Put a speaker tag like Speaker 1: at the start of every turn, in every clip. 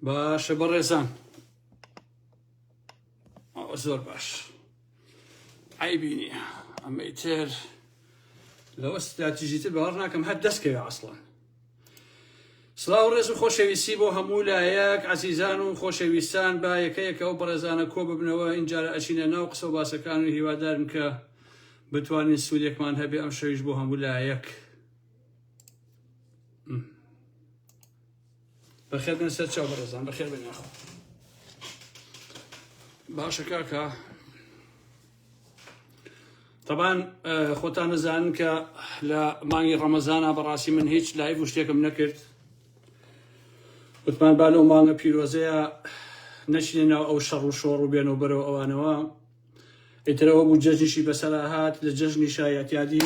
Speaker 1: باشە بەڕێزان ئەوە زۆر باش عیبی نییە ئەمەی تر لەوە ستراتیژی تر باوەڕ ناکەم هەر دەستکەوێ ئەسڵان سلااو ڕێز و خۆشەویستی بۆ هەموو لایەک عزیزان و خۆشەویستان با یەکەیەکە ئەو بەڕێزانە کۆ ببنەوە ئینجارە ئەچینە ناو قسە و باسەکان و هیوادارم کە بتوانین سوودێکمان هەبێ ئەم شەویش بۆ هەموو لایەک. بەخێر بێن سەر چاو بەڕێزان بەخێر بێن یاخۆ باشە کاکە طبعاان خۆتان نەزانن کە لە مانگی ڕەمەزانە بەڕاستی من هیچ لایڤ و شتێکم نەکرد وتمان با لەو مانگە پیرۆزەیە نەچینە ناو ئەو شەڕ و شۆڕ و بێن و بەرەوە ئەوانەوە ئیتر ئەوە بوو جەژنیشی بەسەرا هات لە جەژنی شایەتیادی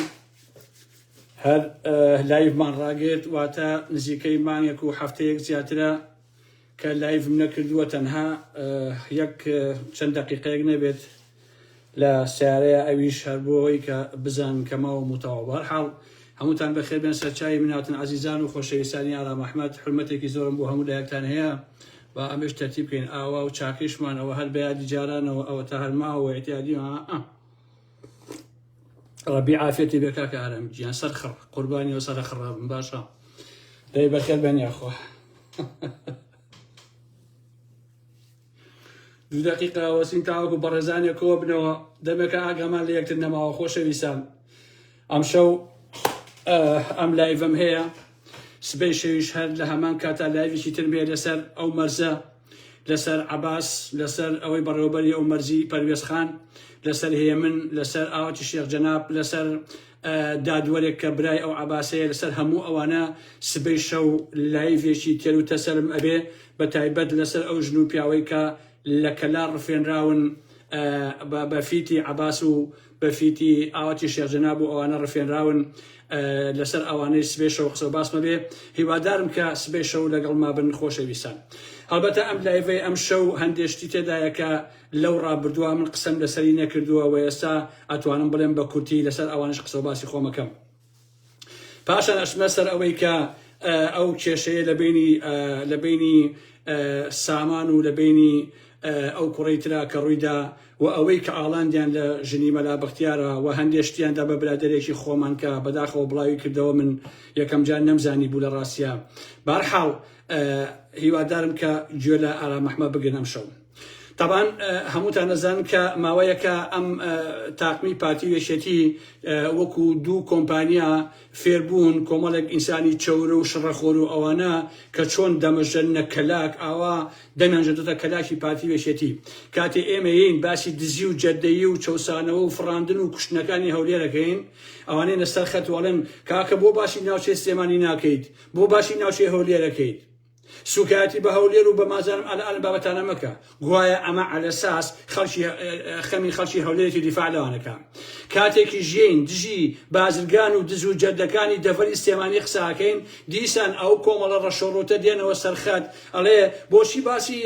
Speaker 1: هەر لایڤمان ڕاگرت واتە نزیکەی مانگێک و هەفتەیەک زیاترە کە لایڤم نەکردووە تەنها یەک چەند دقیقەیەک نەبێت لە سیارەیە ئەویش هەر بۆەوەی کە بزان کەماوە متەواوار حاڵ هەمووتان بەخێبێن سەرچاوی مناتن عزیزان و خۆشەویستانی ئارام ئەحمد حرمەتێکی زۆرم بۆ هەموو لایەکتان هەیە با ئەمەیش تەرتیب کەین ئاوا و چاکەیشمان ئەوە هەر بەیادی جارانەوە ئەوەتا هەر ماوە و ئیعتیادی ها ئا ڕەبی عافیەتی بێ کاکە ئارام گیان سەر خڕ قوربانی و سەرە خڕا بم باشە دەی بەخێر بێن یاخوا دوو دقیقە وەسین تاوەکو بەڕێزانێکەوە بنەوە دەمێکە ئاگامان لە یەکتر نەماوە خۆشەویستان ئەمشەو ئەم لایڤم هەیە سبەی شەویش هەر لە هەمان کاتا لایڤێکی ترم هەیە لەسەر ئەو مەرزە لەسەر عباس لەسەر ئەوەی بەڕێوبەری ئەو مەرزی پەروێز خان لەسەر هێمن لەسەر ئاوەتی شێخ جەناب لەسەر دادوەرێک کە برای ئەو عباسەیە لەسەر هەموو ئەوانە سبەی شەو لایڤێکی تێر و تەسەرم ئەبێ بە تایبەت لەسەر ئەو ژن و پیاوەی کە لە کەلا ڕفێنراون بە فیتی عباس و بەفیتی ئاواتی شێخ جەناب و ئەوانە ڕفێنراون لەسەر ئەوانەی سبەی شەو قسە و باس مەبێ هیوادارم کە سبەی شەو لەگەڵ مابن خۆشەویستان هەڵبەتە ئەم لایڤەی ئەم شەو هەندێشتی تێدایە کە لەو ڕابردووە من قسەم لەسەری نەکردووە و ئێستا ئەتوانم بڵێم بە کورتی لەسەر ئەوانش قسە و باسی خۆمەکەم پاشان ئەچمە سەر ئەوەی کە ئەو کێشەیە لە بینی لە بینی سامان و لە بینی ئەو کوڕی ترا کە ڕوویدا و ئەوەی کە ئاڵاندیان لە ژنی مەلا بەختیارە و هەندێشتیاندا بە برادێکی خۆمان کە بەداخەوە بڵاوی کردەوە من یەکەم جار نەمزانی بوو لە ڕاستە بارحاڵ هیوادارم کە گوێ لە ئارامەحمە بگرنەم شەو تەبعەن هەمووتان ئەزانن کە ماوەیەکە ئەم تاقمی پارتی و یەکێتی وەکو دوو کۆمپانیا فێربوون کۆمەڵێک ئینسانی چەورە و شڕەخۆر و ئەوانە کە چۆن دەمەژەنە کەلاک ئاوا دەمێنجێتە کەلاکی پارتی و یەکێتی کاتێ ئێمەیین باسی دزی و جەردەیی و چەوسانەوە و فڕاندن و کوشتنەکانی هەولێرەکەین ئەوانەی لەسەر خەت وەڵێن کاکە بۆ باسی ناوچەی سلێمانی ناکەیت بۆ باسی ناوچەی هەولێرەکەیت سوکایەتی بە هەولێر و بە مازەرم ئەلە ئەلم بابەتانە مەکە گوایە ئەمە ئەلە ساس خەڵکی خەمی خەڵکی هەولێرێتی دیفاع لەوانەکە کاتێکی ژین دژی بازرگان و دز و جەردەکانی دەڤەری سێمانی قساکەین دیسان ئەو کۆمەڵە ڕەشۆڕوتە دێنەوە سەرخەت ئەڵێ بۆچی باسی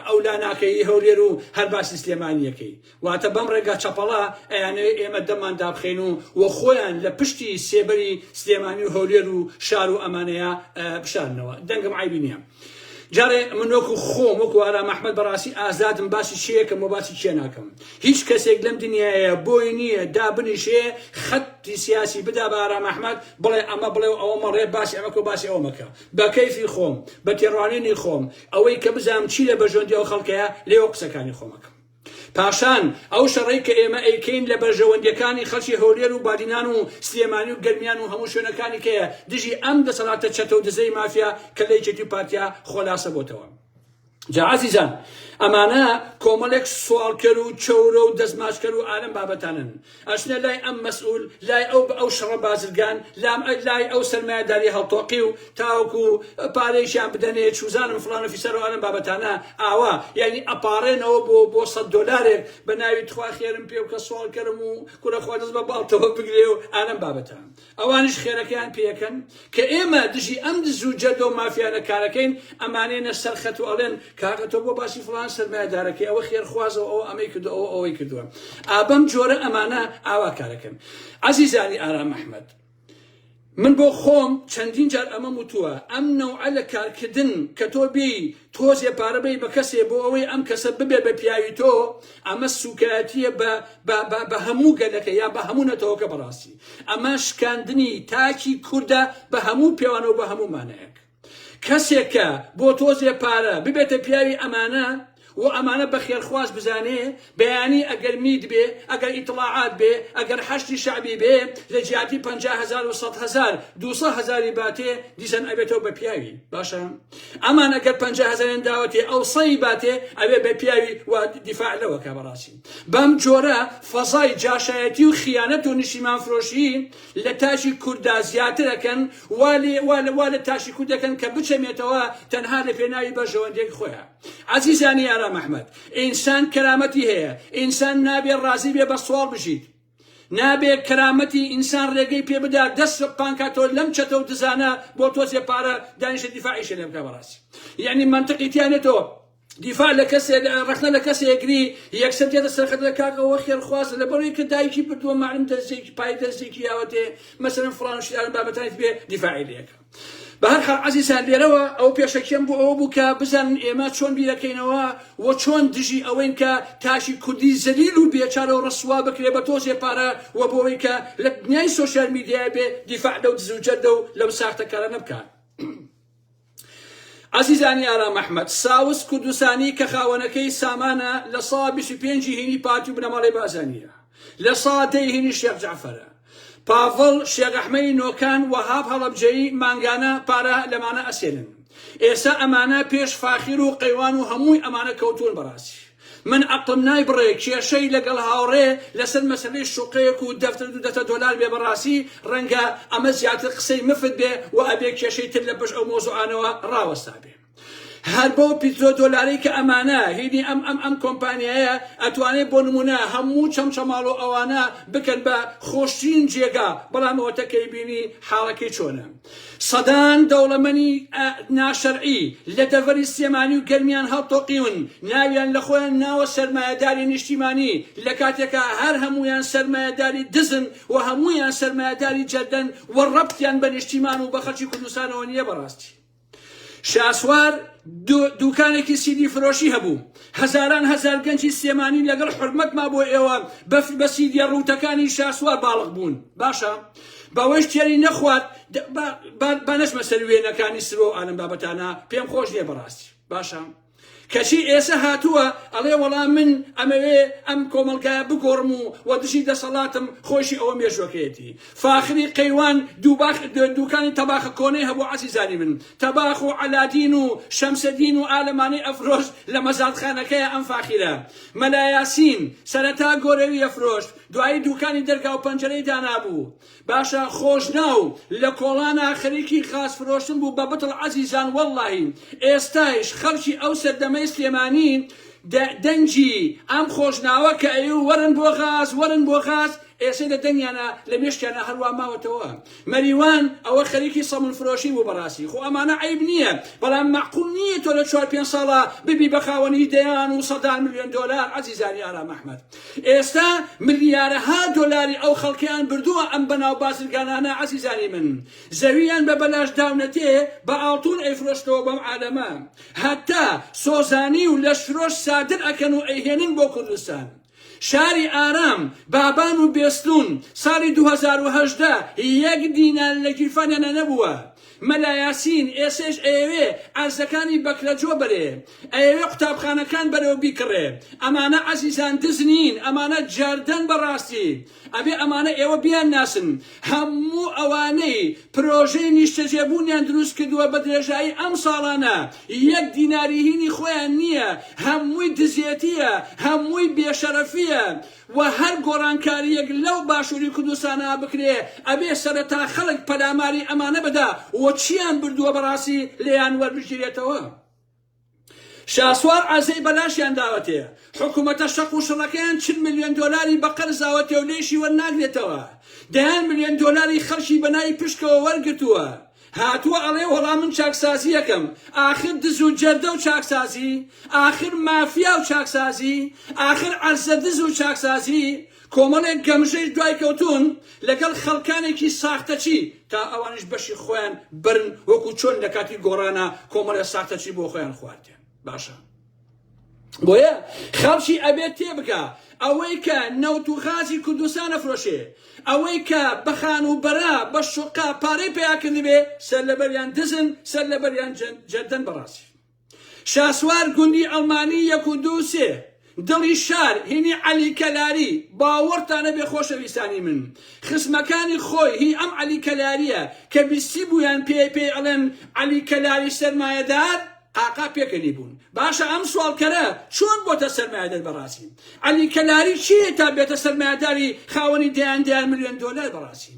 Speaker 1: ئەولا ناکەی هەولێر و هەر باسی سلێمانیەکەی واتە بەم ڕێگا چەپەڵە ئەیانەوێ ئێمە دەممان دابخەین و و خۆیان لە پشتی سێبەری سلێمانی و هەولێر و شار و ئەمانەیا بشارنەوە دەنگم عەیبی نیە جارێ من وەکو خۆم وەکو ئارام ئەحمەد بەڕاستی ئازادم باسی چێکم و باسی چێ ناکەم هیچ کەسێک لەم دنیاە بۆی نییە دابنیشێ خەتی سیاسی بدا بە ئارام ئەحمەد بڵێ ئەمە بڵێ و ئەوە مەڵێ باسی ئەمەکە و باسی ئەومەکە بە کەیفی خۆم بە تێڕوانینی خۆم ئەوەی کە بزانم چی لە بەژۆندی ئەو خەڵکەیە لێوە قسەکانی خۆمەکەم پاشان ئەو شەڕەی کە ئێمە ئەیکەین لە بەرژەوەندیەکانی خەڵکی هەولێر و بادینان و سلێمانی و گەرمیان و هەموو شوێنەکانی کەیە دژی ئەم دەسەڵاتە چەتە و دزەی مافیا کە لە یەکێتی و پارتیا خۆلاسە بۆتەوە. جا ئازیزان ئەمانە کۆمەڵێک سواڵکەر و چەورە و دەستماچکەر و ئالەم بابەتانن ئەچنە لای ئەم مەسئول، لای ئەو بە ئەو شەڕە بازرگان، لام ئە لای ئەو سەرمایەداریە هەڵتۆقیو تاوەکو پارەیشیان بدەنێ چوزانم فڵان و فیسار و ئەم بابەتانە ئاوا یانی ئەپاڕێنەوە بۆ بۆ سەد دۆلارێک بە ناوی تخوا خێرم پێبکە سواڵکەرم و کورە خوا دەست بە باڵتەوە بگرێ و ئانەم بابەتە ئەوانیش خێرەکەیان پێکەن کە ئێمە دژی ئەم دز و جەردە و مافیانە کارەکەین، ئەمانەینە سەر خەت و ئەڵێن کاکە تۆ بۆ باسی فڵان سەرمایەدارەکەی، ئەوە خێرخوازە و ئەوە ئەمەی کردووە، ئەوە ئەوەی کردووە. ئا بەم جۆرە ئەمانە ئاوا کارەکەن. ئازیزانی ئارام ئەحمەد، من بۆ خۆم چەندین جار ئەمەم وتووە، ئەم نەوعە لە کارکردن کە تۆ بێی تۆزێ پارە بەی بە کەسێ بۆ ئەوەی ئەم کەسە ببێ بە پیاوی تۆ ئەمە سوکایەتیە بە بە هەموو گەلەکە یا بە هەموو نەتەوەکە بەڕاستی ئەمە شکاندنی تاکی کووردە بە هەموو پێوانە و بە هەموو مانەیەک کەسێکە بۆ تۆزێ پارە ببێتە پیاوی ئەمانە و ئەمانە بە خێرخواز بزانێ بەیانی ئەگەر میت بێ، ئەگەر ئیتڵاعات بێ، ئەگەر حەشدی شەعبی بێ، لە جیاتی پەنجا هەزار و سەد هەزار، دووسە هەزاری باتێ، دیسان ئەبێتەوە بە پیاوی. باشە ئەمان ئەگەر پەنجا هەزاریان داوەتێ، ئەو سەی باتێ، ئەبێ بە پیاوی و دیفاع لەوە کا. بەڕاستی بەم جۆرە فەزای جاشایەتی و خیانەت و نیشتیمانفرۆشی لە تاکی کورددا زیاتر ئەکەن، وا لە تاکی کورد ئەکەن کە بچەمێتەوە تەنها لە پێناوی بەرژەوەندییەک خۆیا. ئەزیزانی ئارام ئەحمەد ئینسان کەرامەتی هەیە ئینسان نابێ ڕازی بێ بە سواڵ بژیت نابێ کەرامەتی ئینسان ڕێگەی پێ بدا دەست سە پانکا تۆ لەم چەتە و دزانە بۆ تۆزێ پارە دانیشە دیفاعیشە لێ بکە بەڕاستی یعنی منطقی تیانێ تۆ دیفاع لە کەسێ ڕخنە لە کەسێ یەگری یەکسەر دێتە سەرخەتە کاکەوە خێرخواز لە بەڕێ کە دایکی بردووە معلم دەستێکی پای دەستێکی یاوەتێ مەسەرم فلان شیان بابەتانی بێ دیفاعی لەکە بە هەر حاڵ عەزیزان لێرەوە ئەو پێشەکیەم بۆ ئەوە بوو کە بزانن ئێمە چۆن بیرەکەینەوە و چۆن دژی ئەوەین کە تاکی کوردی زەلیل و بێچارە و ڕسوا بکرێ بە تۆزێ پارە و بۆوەی کە لە دنیای سۆشیال میدیای بێ دیفاع لەو دز و جەردە و لەو ساختەکارانە بکات. عزیزانی ئارام ئەحمەد ساوس کوردستانی کە خاوەنەکەی سامانە لە ساڵ 25 هینی پارتی و بنەماڵەی بازانیە. لە ساتەی هینی شێخ جەعفەر، پاڤڵ، شێخ ئەحمەی نۆکان، وەهاب هەڵەبجەیی، مانگانە، پارە لەمانە ئەسێنن. ئێستا ئەمانە پێش فاخیر و قەیوان و هەمووی ئەمانە کەوتوون بەڕاستی من ئەقڵم نای بڕێ کێشەی لەگەڵ هاوڕێ لەسەر مەسەلەی شوقەیەک و دەفتر دوو دەفتە دۆلار بێ بەڕاستی ڕەنگە ئەمە زیاتر قسەی مفت بێ و ئەبێ کێشەی تر لە پشت ئەو مەوزوعانەوە ڕاوەستابێ. هەر بەو پیترۆ دۆلارەی کە ئەمانە هینی ئەم ئەم ئەم کۆمپانیایە ئەتوانێ بۆ نمونە هەموو چەمچەماڵو ئەوانە بکەن بە خۆشترین جێگا بەڵام ئەوەتە کەی بینی حاڵەکەی چۆنە سەدان دەوڵەمەنی ئە ناشەرعی لە دەڤەری سلێمانی و گەرمیان هەڵتۆقیون ناویان لە خۆیان ناوە سەرمایەداری نیشتیمانی لە کاتێکا هەر هەموویان سەرمایەداری دزن و هەموویان سەرمایەداری جەردەن و ڕەبتیان بە نیشتیمان و بە خەلکی کوردستانەوە نیە بەڕاستی شاسوار دوکانێکی سیدی فرۆشی هەبوو هەزاران هەزار گەنجی سلێمانی لەگەڵ حرمەتما بۆ ئێوە بەفر بە سیدیە ڕووتەکانی شاسوار باڵق بوون باشە بەوەی تێری نەخوارد بانەشمە سەر وێنەکانی سرۆ ئالم بابەتانە پێم خۆش نیە بەڕاستی باشە کەچی ئێسە هاتووە ئەڵێ وەڵا من ئەمەوێ ئەم کۆمەڵگایە بگۆڕم و وە دژی دەسەڵاتم، خۆیشی ئەوە مێژووەکەیەتی. فاخری قەیوان دووباخ دووکانی تەباخە کۆنەی هەبوو عەزیزانی من، تەباخ و عەلادین و شەمسەدین و ئالەمانەی ئەفرۆشت لە مەزادخانەکەیا ئەم فاخرە. مەلا یاسین، سەرەتا گۆرەوی ئەفرۆشت دوایی دووکانی دەرگاو پەنجەرەی دانابوو. باشە خۆشناو لە کۆڵانا خەریکی غاز فرۆشتن بوو بە بتڵ عەزیزان وەڵڵاهی ئێستایش خەڵکی ئەو سەردەمەی سلێمانی دە دەنگی ئەم خۆشناوە کە ئەیوو وەرن بۆ غاز وەرن بۆ غاز ئێسەی دە دەنگیانە لە مێشکیانە هەروا ماوەتەوە مەریوان ئەوە خەریکی سەمون فرۆشی بوو بەڕاستی خۆ ئەمانە عەیب نییە بەڵام مەعقول نییە تۆ لە چوار پێنج ساڵە ببی بە خاوەنی دەیان و سەدان ملیۆن دۆلار عەزیزانی ئارام ئەحمەد ئێستا ملیارەها دۆلاری ئەو خەڵکەیان بردووە ئەم بەناو بازرگانانە عەزیزانی من زەوییان بە بەلاش داونەتێ بە ئاڵتوون ئەیفرۆشنەوە بەم عالەمە هەتا سۆزانی و لەشفرۆش سادر ئەکەن و ئەیهێنن بۆ کوردستان شاری ئارام بابان و بێستوون ساڵی دوو هەزار و هەژدە یەک دینار لە گیرفانیانا نەبووە مەلا یاسین ئێسێش ئەیەوێ عەرزەکانی بەکرەجۆ بەرێ ئەیەوێ قوتابخانەکان بەرەو بیکڕێ ئەمانە عەزیزان دز نین ئەمانە جەردەن بەڕاستی ئەبێ ئەمانە ئێوە بیان ناسن هەموو ئەوانەی پرۆژەی نیشتەجێ بوونیان دروست کردوە بەدرێژایی ئەم ساڵانە یەک دیناری هینی خۆیان نیە هەمووی دزێتیە هەمووی بێشەرەفیە و هەر گۆڕانکاریەک لەو باشوری کوردستانا بکرێ ئەبێ سەرەتا خەڵک پەلاماری ئەمانە بدا و چیان بردوە بەڕاستی لێیان وەربگیرێتەوە شاسوار عەزێی بەلاشیان داوەتێ حکومەتە شەق و شڕەکەیان چل ملیۆن دۆلاری بەقەرزاوەتێ و لێیشی وەرناگرێتەوە دەیان ملیۆن دۆلاری خەڵکی بەناوی پشکەوە وەرگرتوە هاتووە ئەڵێ وەڵا من چاکسازییەکەم، ئاخر دز و جەردە و چاکسازی، ئاخر مافیا و چاکسازی، ئاخر عەرزە دز و چاکسازی، کۆمەڵێک گەمژەیش دوای کەوتوون لەگەڵ خەڵکانێکی ساختەچی تا ئەوانیش بەشی خۆیان بەرن وەکو چۆن لەکاتی گۆڕانا کۆمەڵێ ساختەچی بۆ خۆیان خواردیان باشە بۆیە خەڵکی ئەبێت تێبگا ئەوەی کە نەوت و غازی کوردستان ئەفرۆشێ ئەوەی کە بە خانووبەرە بە شوقە پارەی پیا کردبێ سەر لەبەریان دزن سەر لەبەریان جەردەن بەڕاستی شاسوار گوندی ئەڵمانی یەک و دوو سێ دڵی شار هینی عەلی کەلاری باوەڕتانە بێ خۆشەویستانی من خسمەکانی خۆی هی ئەم عەلی کەلاریە کە بیستی بوویان پێ پێی ئەڵێن عەلی کەلاری سەرمایەدار قاقا پێکەنی بوون. باشە ئەم سواڵکەرە چۆن بۆتە سەرمایەدەر بەڕاسی عەلی کەلاری چیە تا بێتە سەرمایەداری خاوەنی دەیان دەیان ملیۆن دۆلار بەڕاسی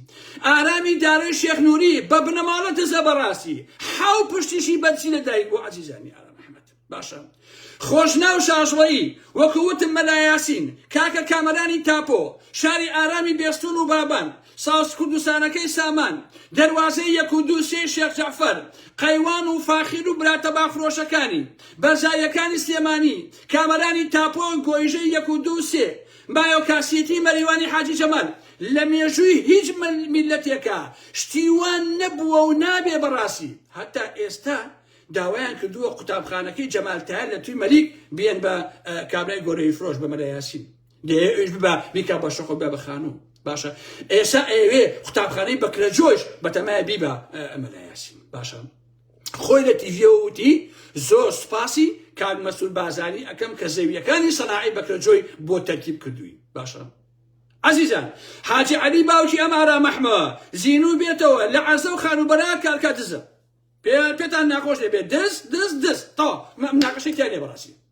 Speaker 1: ئارامی دارۆی شێخ نوری بە بنەماڵە دزە بەڕاسی حاو پشتیشی بەرزی لە دایک بوو عەزیزانی ئارام ئەحمەد باشە خۆشناو شاژڵەیی وەکو وتم مەلا یاسین کاکە کامەرانی تاپۆ شاری ئارامی بێستون و بابان ساز کوردستانەکەی سامان، دەروازەی یەک و دوو سێی شێخ جەعفەر، قەیوان و فاخیر و برا تەبا فرۆشەکانی، بەرزاییەکانی سلێمانی، کامەرانی تاپۆ، گۆیژەی یەک و دوو سێ، مایۆکاسیتی مەریوانی حاجی جەمال، لە مێژووی هیچ میللەتێکا شتی وا نەبووە و نابێ بەڕاستی هەتا ئێستا داوایان کردووە قوتابخانەکەی جەمال تایەر لە توی مەلیک بێن بە کابرای گۆرەوی فرۆش بە مەلا یاسین دەیەوێ ئەویش ببا بیکا بە شەقۆ بێ بە خانوو باشە ئێسا ئەوێ قوتابخانەی بەکرەجۆش بەتەمای بیبا ئەمەلایاسی باشە خۆی لە تیڤەوتی زۆر سوپاسی کاک مەسول بازاری ئەەکەم کە زەویەکانی سەناعی بەکرەجۆی بۆ تەرکیب کردووی باشە عزیزان حاجی علی باوکی ئەم ئارا مەحمە زینوو بێتەوە لە عەرزە و خانوبەرا کارکە دزە پێتان ناخۆش دەبێت دەست دەست دەست تا ناقەشێک تیا لێ بەڕاستی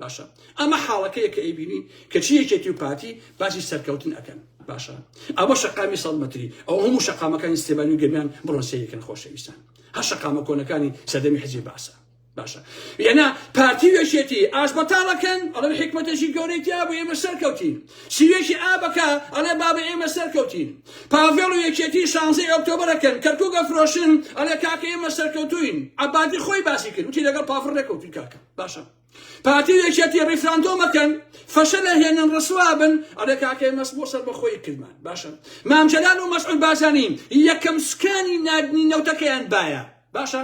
Speaker 1: باشە ئەمە حاڵەکەیە کە ئەیبینین کەچی یەکێتی و پارتی باسی سەرکەوتن ئەکەن باشە ئەوە شەقامی سەد مەتری ئەو هەموو شەقامەکانی سێبانی و گەرمیان بڕۆن سەیرکەن خۆشەویستان هەر شەقامە کۆنەکانی سەردەمی حزبی باسە باشە یەنا پارتی وێشێتی ئاش بەتاڵەکەن ئەڵێن حکمەتێکی گەورەی تیا بوو ئێمە سەرکەوتین سیوێکی ئابەکە ئەڵێ بابە ئێمە سەرکەوتین پاڤێڵ و یەکێتی شانزەی ئۆکتۆبرەکەن کەرکووگە فرۆشن ئەڵێ کاکە ئێمە سەرکەوتوین عەبادی خۆی باسی کرد وتی لەگەڵ پافڕ نەکەوتوی کاکە باشە پارتی و یەکێتی ڕیفراندۆمەکەن فەشەلە هێنن ڕسوابن ئەڵێ کاکەی مەس بۆ سەر بەخۆی کردمان باشە مام جەلال و مەسعود بازانی یەکەم سکانی نادنی نەوتەکەیان باە باشە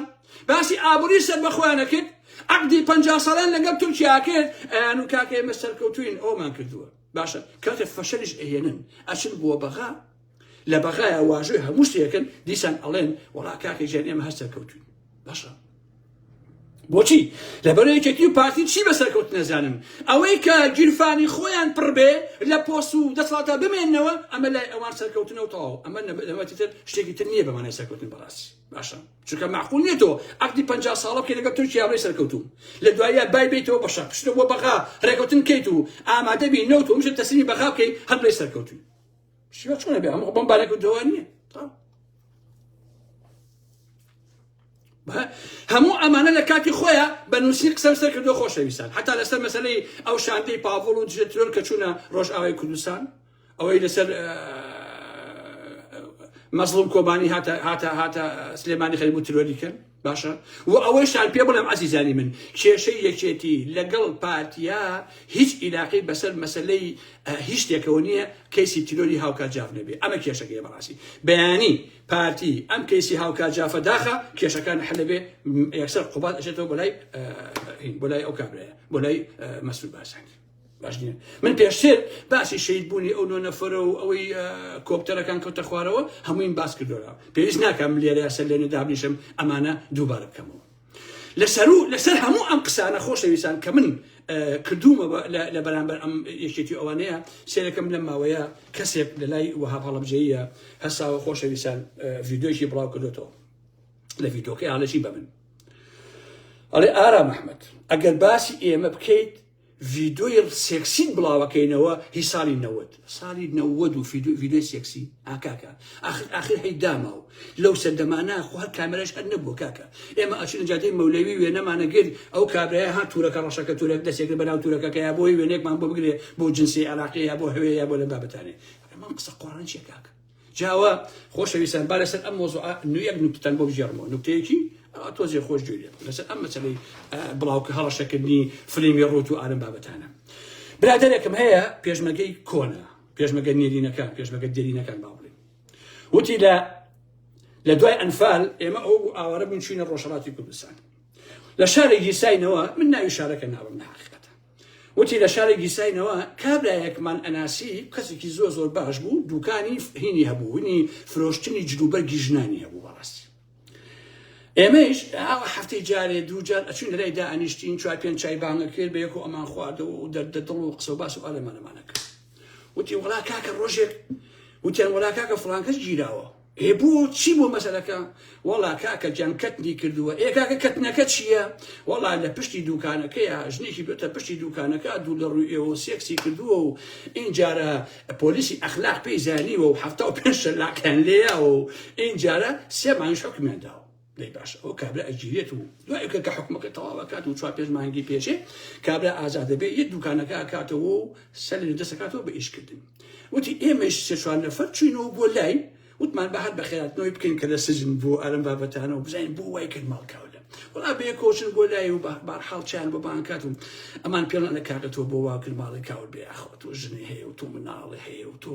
Speaker 1: باسی ئابووری سەر بەخۆیانە کرد عقدی پ ساڵان لەگەڵ تورکیا کرد ئەیان و کاکەی مە سەرکەوتوین ئەومان کردووە باشە کاتێ فەشەلیش ئەهێنن ئەچن بۆ بەغا لە بەغایە واژۆی هەموو شتێکن دیسان ئەڵێن وەڵا کاکە ژیان ئێمە هەر سەرکەوتوین باشە بۆچی لەبەر یەکێتی و پارتی چی بە سەرکەوت نەزانن ئەوەی کە گیرفانی خۆیان پڕبێ لە پۆس و دەسڵاتە بمێنەوە ئەمە لای ئەوان سەرکەوتنە و تەواو ئەمە نەبەتتر شتێکی تر نییە بەمانای سەرکەوتن بەڕاستی باشە چونکە معقول نیە تۆ عقدی پ ساڵە بکە لەگە تورکیا بڵی سەرکەوتوم لە دوایە بای بیتەوە بەشە پشتە بۆ بەغا ڕێکەوتن کەیت و ئامادەبی نەوت و مشە تەسمی بەغا بکەیت هەر بڵی سەرکەوتوی شیوە چۆنە بێ هەموو بەم بارێک و جوان نییە هەموو ئەمانە لە کاتی خۆیان بە نووسین قسەم سەر کردو خۆشەویستان حتا لەسەر مەسلەی ئەو شاندەی پاڤڵ و دژێترۆن کە چوونە ڕۆژئاوای کوردستان ئەوەی لەسەر مەزڵوم کۆبانی هاتە هاتە هاتە سلێمانی خەریبوو ترۆری کرد باشە وە ئەوەیشتان پێ بڵێم عزیزانی من کێشەی یەکێتی لەگەڵ پارتیا هیچ ئیلاقەی بەسەر مەسلەی هیچ شتێکەوە نییە کەیسی تیرۆری هاوکات جاف نەبێ ئەمە کێشەکەی بەڕاستی بەیانی پارتی ئەم کەیسی هاوکات جافە داخە کێشەکان حلبێ یەکسەر قوبات ئەشێتەوە بۆ لای بۆ لای ئەو کابرایە بۆ لای مەسرور باسانی باش نیە من پێشتر باسی شەید بوونی ئەو نۆ نەفرە و ئەوەی کۆپتەرەکان کەوتە خوارەوە هەموویم باس کردۆرا پێویست ناکەم لێرە سەر لێنە دابنیشم ئەمانە دووبارە بکەمەوە لەسەر و لەسەر هەموو ئەم قسانە خۆشەویستان کە من کردومە لە بەرامبەر ئەم یەکێتی ئەوانەیە سێرەکەم لەم ماوەیە کەسێک لە لای وەها هەڵبجەیە هەساوە خۆشەویستان ڤیددیۆکی بڵاو کردێتەوە لە ڤیدۆکەی هاالەشی بە من ئەڵێ ئارام مححمد ئەگەر باسی ئێمە بکەیت ڤیدۆی سێکسیت بڵاوەکەینەوە هی ساڵی نەوەد ساڵی نەوەد و ڤیدۆی سێکسی ئاکاکە ئاخر ئاخر هەی داما و لەو سەردەمانە خۆ هەر کامێرەش هەر نەبووە کاکە ئێمە ئەچین جادەی مەولەوی وێنەمانە گرت ئەو کابرای ها تورەکە ڕەشەکە تورەک دەسێکرد بەناو تورەکەکە یا بۆی وێنێکمان بۆ بگرێ بۆ جنسی عێراقی یا بۆ هەوێ یا بۆ لە بابەتانێ من قسە قۆڕان چیە کاکە جاوا خۆشەویستان با لەسەر ئەم مۆزوع نوێک نوکتتان بۆ بژێڕمەوە نوکتەیەکی ئەوە تۆزێ خۆش جوێ لێ بکەن لەسەر ئەم مەسەلەی بڵاوکە هەڵەشەکردنی فلیمی ڕوت و ئارم بابەتانە برادێکم هەیە پێشمەگەی کۆنە پێشمەگە نێرینەکان پێشمەگە دێرینەکان با بڵێن وتی لە لە دوای ئەنفال ئێمە ئەو بوو ئاوارە بوون چوینە ڕۆژهڵاتی کوردستان لە شارێکی ساینەوە من ناوی شارەکە ناوم ناخ وتی لە شاری گیساینەوە کابرایەکمان ئەناسی کەسێکی زۆر زۆر باش بوو دوکانی هینی هەبوو هینی فرۆشتنی جلوبەرگی ژنانی هەبوو بەڕاستی ئێمەش ئاوە هەفتەی جارێ دووجار ئەچین لەلای دا ئەنیشتین چوار پێنج چای بانگە کرد بە یەکو ئەمان خواردەوە و دەردە دڵ و قسە و باس و ئالەمانەمانە کرد وتی وڵا کاکە ڕۆژێک وتیان وڵا کاکە فڵانکەس گیراوە ئێ بۆ چی بۆ مەسەلەکە وەڵا کاکە گیان کەتنی کردووە ئێ کاکە کەتنەکە چییە وەڵا لە پشتی دوکانەکەیە ژنێکی بێتە پشتی دوکانەکە دوو لە ڕووی ئێوە سێکسی کردووە و ئینجارە پۆلیسی ئەخلاق پێی زانیوە و حەفتا و پێنج شەلاقیان لێیاوە و ئینجارە سێ مانگیش حوکمیان داوە دەی باشە ئەو کابرا ئەگیرێت و دوای کە کە حکومەکە تەواوەکات و چوار پێش مانگی پێچێ کابرا ئازاد دەبێت یە دوکانەکە کاتەوە و سەر لە دەسەکاتەوە بە ئیشکردن وتی ئێمەش سێ چوار نەفەر چوینەوە بۆ لای وتمان بە هەر بەخێراتنەوەی بکەین کە لە سجن بۆ ئەرم بابەتانە و بزانین بۆ وای کرد ماڵکاولە وڵا بێ کۆچن بۆ لای و بارحاڵ چیان بۆ بانکات و ئەمان پێڵان لە کاگەتەوە بۆ واکرد ماڵی کاول بێ ئاخۆ تۆ ژنی هەیە و تۆ مناڵی هەیە و تۆ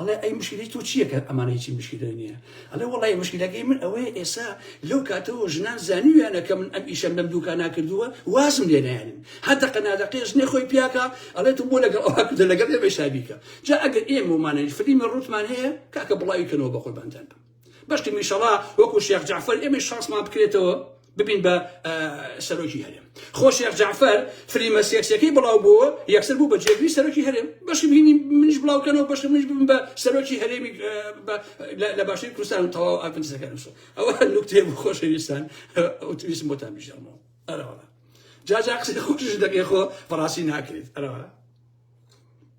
Speaker 1: ئەڵێ ئەی مشکلی تۆ چییە کە ئەمانە هیچی مشکلی نییە ئەڵێ وڵی مشکلەکەی من ئەوەیە ئێسا لەو کاتەوە ژنان زانیویانە کە من ئەم ئیشەم لەم دووکان ناکردووە وازم لێ نایەنن هەردەقە نادەقێش نێ خۆی پیاکە ئەڵێ تو بۆ لەگەڵ ئەوها کردە لەگەڵ ئێمەشابیکە جا ئەگەر ئێمەمانە فلیمی ڕوتمان هەیە کاکە بڵاوی کەنەوە بە قوربانتان بم بەشکم ئیشەڵا وەکو شێخ جەعفەر ئێمەی شانسمان بکرێتەوە ببین بە سەرۆکی هەرێم خۆ شێخ جەعفەر فلیمە سێکسەکەی بڵاو بووە یەکسەر بوو بە جێگری سەرۆکی هەرێم بەشی بینی منیش بڵاوکەنەوە بەشی منیش ببن بە سەرۆکی هەرێمی لە باشی کوردستان و تەواو ئاپنسەکەنسە ئەوە نوکتێ بوو خۆشەویستان ئەوتویسم بۆتان بژەمەوە ئەرەوە جاجا قسەی خۆشش دەکەی خۆ بەڕاستی ناکرێت ئەرەوە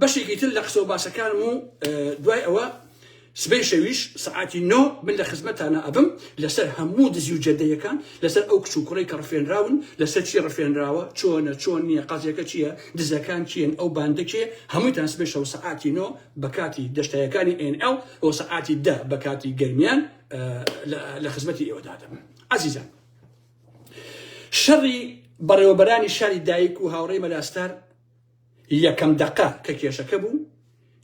Speaker 1: بەشێکی تر لە قسە و باسەکانم و دوای ئەوە سبەی شەویش سعاتی نۆ من لە خزمەتانە ئەبم لەسەر هەموو دزی و جەدەیەکان لەسەر ئەو کچ و کوڕی کە ڕفێنراون لەسەر چی ڕفێنراوە چۆنە چۆن نییە قازیەکە چییە دزەکان چیەن ئەو باندەکێ هەموویتان سبەی شەو سعاتی نۆ بە کاتی دەشتایەکانی NL بۆ سعاتی دە بە کاتی گەرمیان لە خزمەتی ئێوەدادەم عزیزان شەڕی بەڕێوەبەرانی شاری دایک و هاوڕێی مەلاستار یەکەم دەقە کە کێشەکە بوو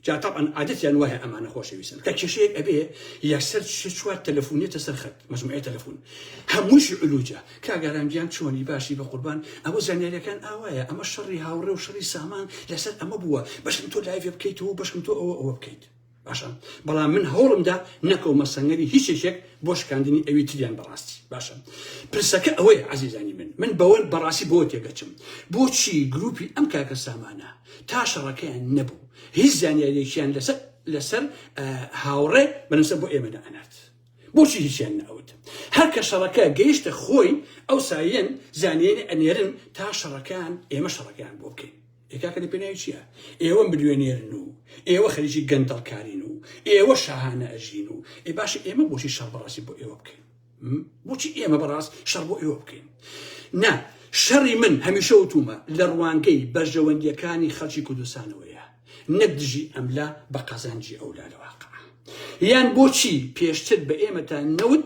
Speaker 1: جا طبعا عادەتیان وایە ئەمانە خۆشەویستن کە کێشەیەک ئەبێ یەکسەر شێ چوار تەلەفونێتە سەر خەت مجموعەیە تەلەفون هەمووشی علوجە کاگەرانگیان چۆنی باشی بە قوربان ئەوە زانیاریەکان ئاوایە ئەمە شەڕی هاوڕێ و شەڕی سامان لەسەر ئەمە بووە بەشم تۆ لایڤ بکەیتەوە بەشم تۆ ئەوە ئەوە بکەیت باشە بەڵام من هەوڵمدا نەکەومە سەنگەری هیچ یەکێک بۆ شکاندنی ئەوی تریان بەڕاستی باشە پرسەکە ئەوەیە عزیزانی من من بەوەن بەڕاستی بۆ تێگەچم بۆچی گروپی ئەم کاکە سامانە تا شەڕەکەیان نەبوو هیچ زانیارێکیان لەسەر لەسەر هاوڕێ بەنسە بۆ ئێمەدا ئەنات بۆچی هیچیان نەوت هەر کە شەڕەکە گەیشتە خۆی ئەو سایەن زانێن ئەنێرن تا شەڕەکان ئێمە شەڕەکەیان بۆ بکەین ئێ کاکە لە پێناوی چیە ئێوە ملیۆنێرن و ئێوە خەریکی گەندەڵکارین و ئێوە شاهانە ئەژین و ئێ باشە ئێمە بۆچی شەڕ بەڕاستی بۆ ئێوە بکەین بۆچی ئێمە بەڕاست شەڕ بۆ ئێوە بکەین نا شەڕی من هەمیشە وتومە لە ڕوانگەی بەرژەوەندیەکانی خەڵکی کوردستانەوەیە نەک دژی ئەملا بە قازانجی ئەولا لە واقع یان بۆچی پێشتر بە ئێمەتا نەوت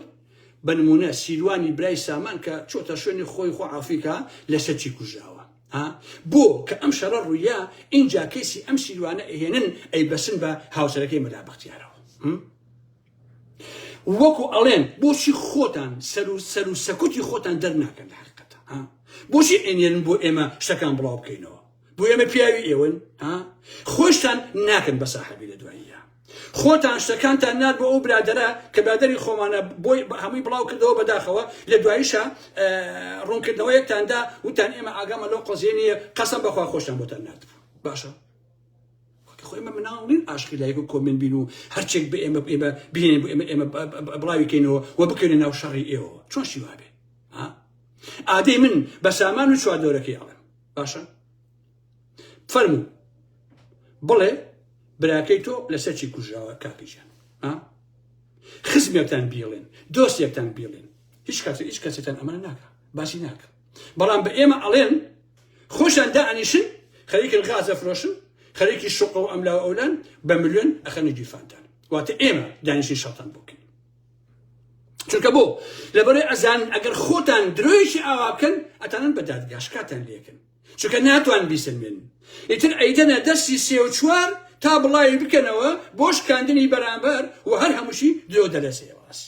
Speaker 1: بە نمونە سیروانی برای سامان کە چۆتە شوێنی خۆی خۆ عافیکە لە سەرچی کوژاوە ها بۆ کە ئەم شەڕە ڕوویا ئینجا کەیسی ئەم سیروانە ئەهێنن ئەی بەسن بە هاوسەرەکەی مەلا بەختیارەوە وەکو ئەڵێن بۆچی خۆتان سەر و سەر و سەکوتی خۆتان دەرناکەن لە حقیقەتە بۆچی ئەێنن بۆ ئێمە شتەکان بڵاو بکەینەوە بۆ ئێمە پیاوی ئێوەن خۆشتان ناکەن بە ساحبی لە دواییە خۆتان شتەکانتان نارد بۆ ئەو برادەرە کە برادەری خۆمانە بۆی هەمووی بڵاو کردەوە بەداخەوە لە دواییشە ڕوونکردنەوەیەکتان دا وتان ئێمە ئاگامە لەو قەزیە نیە قەسەم بەخوا خۆشتان بۆتان نارد باشە خۆی ئمە مناڵ نین ئاشقی لایک و کۆمن بین و هەرچێک بە ئێمە ئێمە بینێن بۆ ئێمە ئێمە بڵاویکەینەوە و بکەینە ناو شەڕی ئێوە چۆن شیوابێ ئادەی من بە سامان و چواردۆرەکەی ئەڵێم باشە فەرموو بڵێ براکەی تۆ لەسەر چی کوژراوە کاکی جان خزمێکتان بیڵێن دۆستێکتان بیڵێن هیچ کات هیچ کەسێتان ئەمان ناکە باسی ناکە بەڵام بە ئێمە ئەڵێن خۆشان دائنیشن خەریکن غازە فرۆشن خەرێکی شوق و ئەملا و ئەولان بە ملیۆن ئەخەنە گیرفانتان واتە ئێمە دانیشی شەتان بکەین چونکە بۆ لەبەرێ ئەزان ئەگەر خۆتان درۆیشی ئاوا بکەن ئەتانن بە دادگاشکاتان لەکەن چونکە ناتوانن بیسەلمێنن ئیتر ئەیدەنە دەستی سێ و چوار تا بڵاوی بکەنەوە بۆ شکاندنی بەرامبەر و هەر هەمووشی درۆ دەلەسێ واس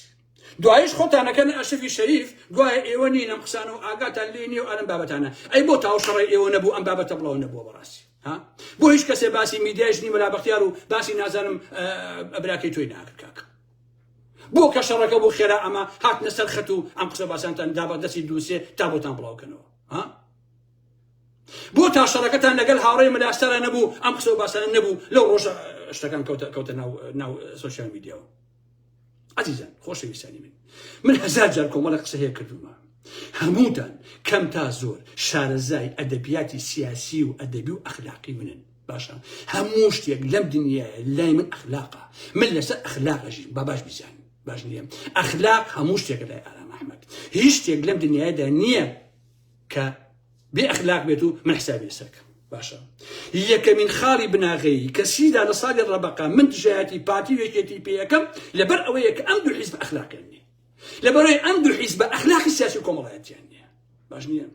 Speaker 1: دوایش خۆتانەکەن ئەشەفی شەریف گوایە ئێوە نین ئەم قسانە و ئاگاتان لێ نیە و ئەرم بابەتانە ئەی بۆ تاو شەڕی ئێوە نەبوو ئەم بابەتە بڵاو نەبووە بەڕاستی ها بۆ هیچ کەسێ باسی میدیایش نی مەلا بەختیار و باسی نازانم ئەبراکەی تۆی ناکرد کاکە بۆ کە شەڕەکە بۆ خێرا ئەمە هاتنە سەر خەت و ئەم قسە باسانتان دابە دەستی دووسێ تا بۆتان بڵاوکەنەوە ها بۆ تا شەڕەکەتان لەگەل هاوڕێ مەلاسارا نەبوو ئەم قسە و باسانە نەبوو لەو ڕۆژە شتەکان کەوتە کەوتە ناو ناو سوسیال میدیاەوە عزیزان خۆشەویستانی من من هەزار جار کۆمەڵە قسە هەیە کردومە هەمووتان کەم تا زۆر شارەزای ئەدەبیاتی سیاسی و ئەدەبی و ئەخلاقی منن باشە هەموو شتێک لەم دنیاە لای من ئەخلاقە من لەسەر ئەخلاقەژین با باش بزانین باش نیە ئەخلاق هەموو شتێکە لای ئارام ئەحمد هیچ شتێک لەم دنیادا نییە کە بێ ئەخلاق بێت و من حسابی لەسەرکەم باشە یەکەمین خاڵی بناغەیی کە سیدا لە ساڵی ڕەبقا من دژایەتی پارتی وێکێتی پێەکەم لەبەر ئەوەیە کە ئەم دوو حیزب ئەخلاقیان نیە لەبەرەوەی ئەم دوو حیزب بە ئەخلاقی سیاسی کۆمەڵایەتیان نیە باش نییە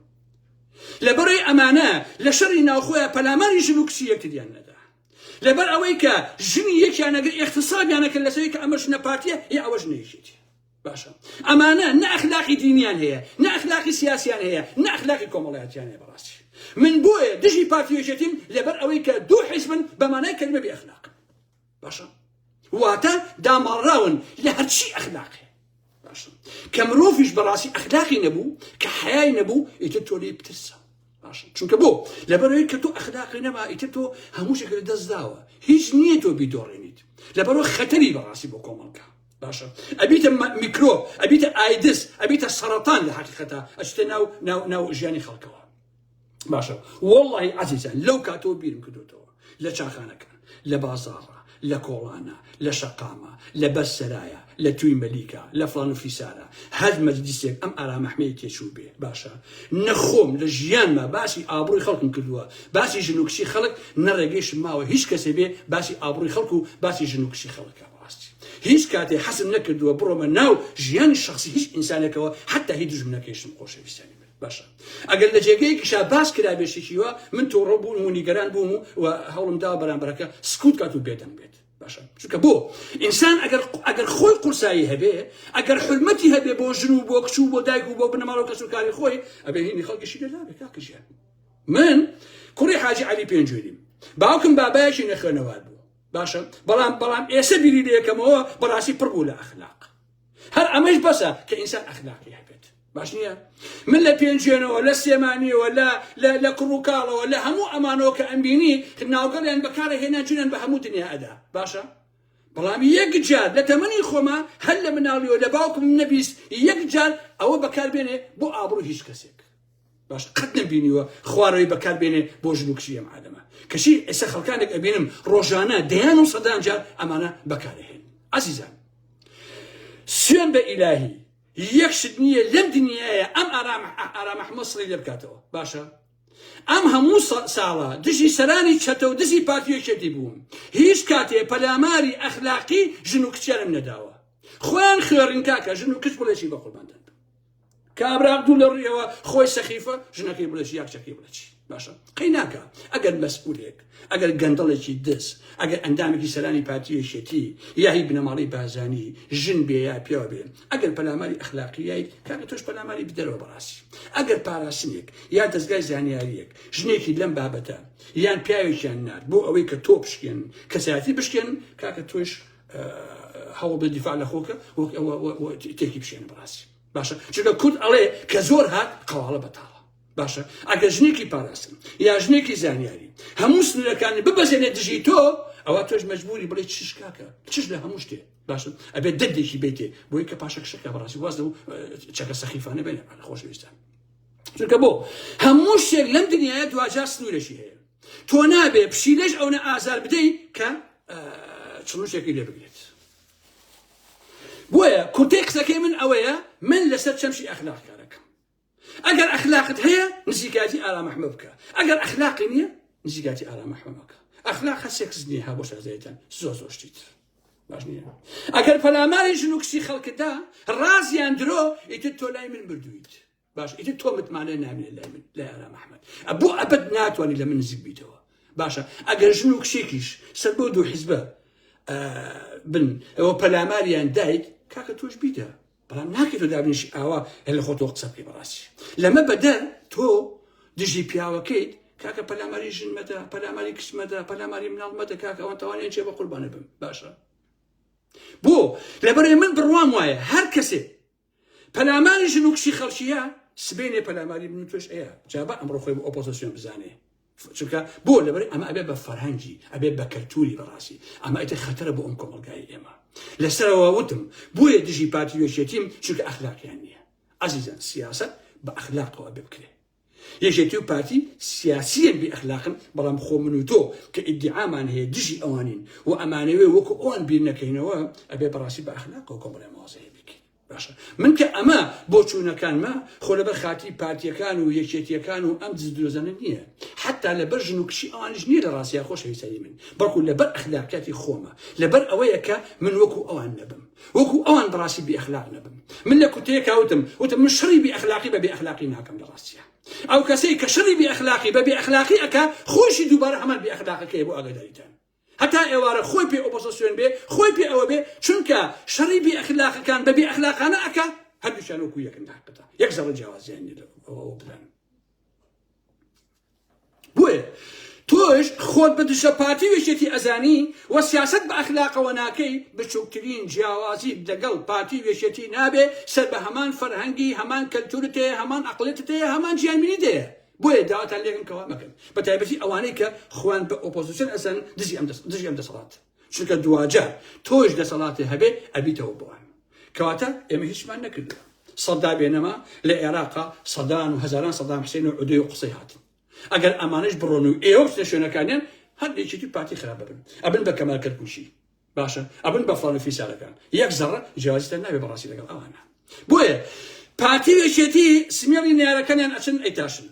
Speaker 1: لەبەرەوەی ئەمانە لە شەڕی ناوخۆیان پەلاماری ژن و کچی یەکتریان نەدا لەبەر ئەوەی کە ژنی یەکیانەگر اقتصابیانەکە لەسەوەی کە ئەمە ژنە پارتیە هی ئەوە ژنێکێتی باشە ئەمانە نە ئەخلاقی دینیان هەیە نە ئەخلاقی سیاسیان هەیە نە ئەخلاقی کۆمەڵایەتیان هەیە بەڕاستی من بۆیە دژی پارتی یەکێتیم لەبەر ئەوەی کە دوو حیزبن بە مانای کەلمە بێ ئەخلاق باشە واتە داماڵراون لە هەرچی ئەخلاقێ باشە کە مرۆڤیش بەڕاستی ئەخلاقی نەبوو کە حیای نەبوو ئیتر تۆ لێی بترسە باشە چونکە بۆ لەبەرەوەی کە تۆ ئەخلاقی نەما ئیتر تۆ هەموو شێک لە دەستداوە هیچ نییە تۆ بیدۆڕێنیت لەبەرەوە خەتەری بەڕاستی بۆ کۆمەڵگە باشە ئەبیتە میکرۆب ئەبیتە ئایدز ئەبیتە سەرەتان لە حقیقەتە ئەچتە ناو ناو ناو ژیانی خەڵکەوە باشە وەڵی عزیزە لەو کاتەوە بیرم کردوتەوە لە چاخانەکان لە بازاڕە لە کۆڵانە لە شەقامە لە بەر سەرایە لە توی مەلیکە لە فلان و فیسارە هەر مەجلیسێک ئەم ئارامەحمەیە تێچوو بێ باشە نەخۆم لە ژیانمە باسی ئابڕووی خەڵکم کردووە باسی ژنوکشی خەڵک نەڕێگەیشم ماوە هیچ کەسێ بێ باسی ئابڕووی خەڵک و باسی ژنوکشی خەڵکە ڕاستی هیچ کاتێ حەزم نەکردووە بڕۆمە ناو ژیانی شەخسی هیچ ئینسانێکەوە حەتا هی دوژمنەکەیشم خۆشەویستیانی من باشە ئەگەر لە جێگەیەکیشا باس کرابێ شتێکی وا من تۆڕە بووم و نیگەران بووم و و هەوڵم دا بەرامبەرەکە سکوت کات و بێدەنگ بێت باشە چونکە بۆ ئینسان ئەگەر ئەگەر خۆی قورسایی هەبێ ئەگەر حرمەتی هەبێ بۆ ژن و بۆ کچ و بۆ دایک و بۆ بنەماڵە و کەس و کاری خۆی ئەبێ هینی خەڵکیشی لێ نابێ کاکە ژیان من کوڕی حاجی عەلی پێنجوێنیم باوکم بابایەکی نەخوێنەوار بوو باشە بەڵام بەڵام ئێسە بیری لەکەمەوە بەڕاستی پڕ بوو لە ئەخلاق هەر ئەمەش بەسە کە ئینسان ئەخلاقی هەبێت باش نییە من لە پێنجێنەوە لە سێمانیەوە لە لە کوڕوکاڵەوە لە هەموو ئەمانەوە کە ئەمبینی ناوگەڵیان بەکارە هێنا جوێن بە هەموو دنیا ئەدا باشە بەڵام یەک جار لە تەمەنی خۆما هەر لە مناڵیەوە لە باوکم نەبیست یەک جار ئەوە بەکاربێنێ بۆ ئابڕوو هیچ کەسێک باش قەت نەمبینیوە خوارەوەی بەکار بێنێ بۆ ژن و کچی ئەم عالەمە کەچی ئێستا خەڵکانێک ئەبینم ڕۆژانە دەیان و سەدان جار ئەمانە بەکارهێن عزیزان سوێن بە ئیلاهی یەک شت نییە لەم دنیاە ئەم ئارام محمد سڵی لێ بکاتەوە باشە ئەم هەموو ساڵە دژی سەرانی چەتە و دژی پارتیەکێتی بووم هیچ کاتێ پەلاماری ئەخلاقی ژن و کچێرم نەداوە خۆیان خوێڕین کاکە ژن و کچ بڵێکی بە قورباندن کابرا دوو لە ڕویەوە خۆی سەخیفە ژنەکەی بڵێ چی یاکچەکەی بڵێ چی باشە قەی ناکە ئەگەر مەسئولێک ئەگەر گەندەڵێکی دز ئەگەر ئەندامێکی سەرانی پارتیەشێتی یاهی بنەماڵی بازانی ژن بێ یا پیاوە بێن ئەگەر پەلاماری ئەخلاقیایی کاکە تۆش پەلاماری بدەرەوە بەڕاستی ئەگەر پاراسنێک یا دەستگای زانیاریەک ژنێکی لەم بابەتە یان پیاوێکیان نار بۆ ئەوەی کە تۆ بشکێن کەسایەتی بشکێن کاکە تۆش هەوڵبدە دیفاع لە خۆکە تێکی بشێنە بەڕاستی باشە چونکە کورد ئەڵێ کە زۆر هات قەواڵە بەتاڵە باشە ئەگە ژنێکی پاراستن یا ژنێکی زانیاری هەموو سنوورەکانی ببەزێنێ دژی تۆ ئەوە تۆش مجبوری بڵێ چش کاکە چش لە هەموو شتێ باشن ئەبێت دەردێکی بێتێ بۆی کە پاشەکشەکە بەڕاستی واز لەو چەکە سەخیفانە بێنە خۆشویستە چونکە بۆ هەموو شتێک لەم دنیاە دواجار سنوورەشی هەیە تۆ نابێ پشیلەش ئەونە ئازار بدەی کە چڵوشێکی لێ بگرێت بۆیە کورتەی قسەکەی من ئەوەیە من لەسەر چەمشی ئەخلاق کارەکەم ئەگەر ئەخلاقت هەیە نزیکاتی ئارامەحمە بکە ئەگەر ئەخلاقی نییە نزیکاتی ئارامەحمەکە ئەخلاق هە سێکس نیە ها بۆ شازێتەن زۆ زۆر شتیت باش نییە ئەگەر پەلاماری ژن و کچی خەڵکتدا ڕازیان درۆ ئیتر تۆ لای من بردویت باش ئیتر تۆ متمانە نامێنێ لای من لای ئارام ئەحمد بۆ ئەبد ناتوانانی لە من نزیک بیتەوە باشە ئەگەر ژن و کچێکیش سەر بۆ دوو حیزبە بن ئەوە پەلاماریان دایک کاکە تۆش بیدە بەڵام ناکەی تۆ دابنیشی ئاوا هەل خۆ تۆ قسە بکەی بەڕاستی لەمە بەدەر تۆ دژی پیاوەکەیت کاکە پەلاماری ژن مەدە پەلاماری کچ مەدە پەلاماری مناڵ مەدە کاکە ئەوان تاوانیان چێ بە قوربانە بم باشە بۆ لەبەرێ من بڕوام وایە هەر کەسێک پەلاماری ژن و کچی خەڵکیە سبێنێ پەلاماری من توش ئەیە جابە ئەمڕۆ خۆی بۆ ئۆپۆزیسیۆن بزانێ چونکە بۆ لەبەر ئەمە ئەبێ بە فەرهەنگی ئەبێ بە کەلتوری بەڕاستی ئەمە ئەتە خەتەرە بۆ ئەم کۆمەلگای ئێمە لەسەرەوە وتم بۆیە دژی پارتی وێشێتیم چونکە ئەخلاقیان نییە ئازیزان سیاست بە ئەخلاقەوە بکرێت یەکێتی و پارتی سیاسیەن بێ ئەخلاقن بەڵام خۆ من و تۆ کە ئیدیعامان هەیە دژی ئەوانین و ئەمانەوێ وەکو ئەوان بیر نەکەینەوە ئەبێ بەڕاستی بە ئەخلاقەوە کۆمەڵێ موازەهەیە بیکەین باشە من کە ئەمە بۆ چوونەکانمە خۆ لەبەر خاتی پارتیەکان و یەکێتیەکان و ئەم دزدرۆزانە نییە حتا لەبەر ژن و کچی ئەوانش نییە لە ڕاستیا خۆشەویستانی من بەڵکو لەبەر ئەخلاقیاتی خۆمە لەبەر ئەوەیە کە من وەکو ئەوان نەبم وەکو ئەوان بەڕاستی بێ ئەخلاق نەبم من لە کورتەیەکا وتم وتم من شەڕی بێ ئەخلاقی بە بێ ئەخلاقی ناکەم لە ڕاستیە ئەو کەسەی کە شەڕی بێ ئەخلاقی بە بێ ئەخلاقی ئەکا خۆشی دووبارە هەمان بێ ئەخلاقەکەی بۆ ئاگاداریتان هەتا ئێوارە خۆی پێ ئۆپۆزسیۆن بێ خۆی پێ ئەوە بێ چونکە شەڕی بێ ئەخلاقەکان بە بێ ئەخلاقانە ئەکا هەردووشیان وەکو یەکن داقەتە یەک زەڕە جیاوازیان لێ بدەن بۆیە تۆش خۆت بە دژە پارتی و یەکێتی ئەزانی و سیاسەت بە ئەخلاقەوە ناکەی، بچوکترین جیاوازیت لەگەڵ پارتی و یەکێتی نابێ، سەر بە هەمان فەرهەنگی، هەمان کەلتورت هەیە، هەمان ئەقڵێتت هەیە، هەمان جیانبینیت هەیە. بۆیە داواتان لێکەم کەوا مەکەن، بەتایبەتی ئەوانەی کە خۆیان بە ئۆپۆزسیۆن ئەزانن دژی ئەم دژی ئەم دەسەڵاتە. چونکە دواجا تۆش دەسەڵاتێ هەبێ ئەبیتەوە بۆوان کەواتە ئێمە هیچمان نەکردوە سەدا بێنەما لە عێراقا سەدان و هەزاران سەدام حسێن و عودێ و قسەی هاتن ئەگەر ئەمانش بڕۆن و ئێوە بچنە شوێنەکانیان هەندێکی دی پارتی خراپ ببن ئەبن بە کەمال کەرکوشی باشە ئەبن بە فڵان و فیسارەکان یەک زەڕە جیازیتان ناوێ بەڕاستی لەگەڵ ئەوانە بۆیە پارتی وێشێتی سمێڵی نارەکانیان ئەچن ئەیتاشن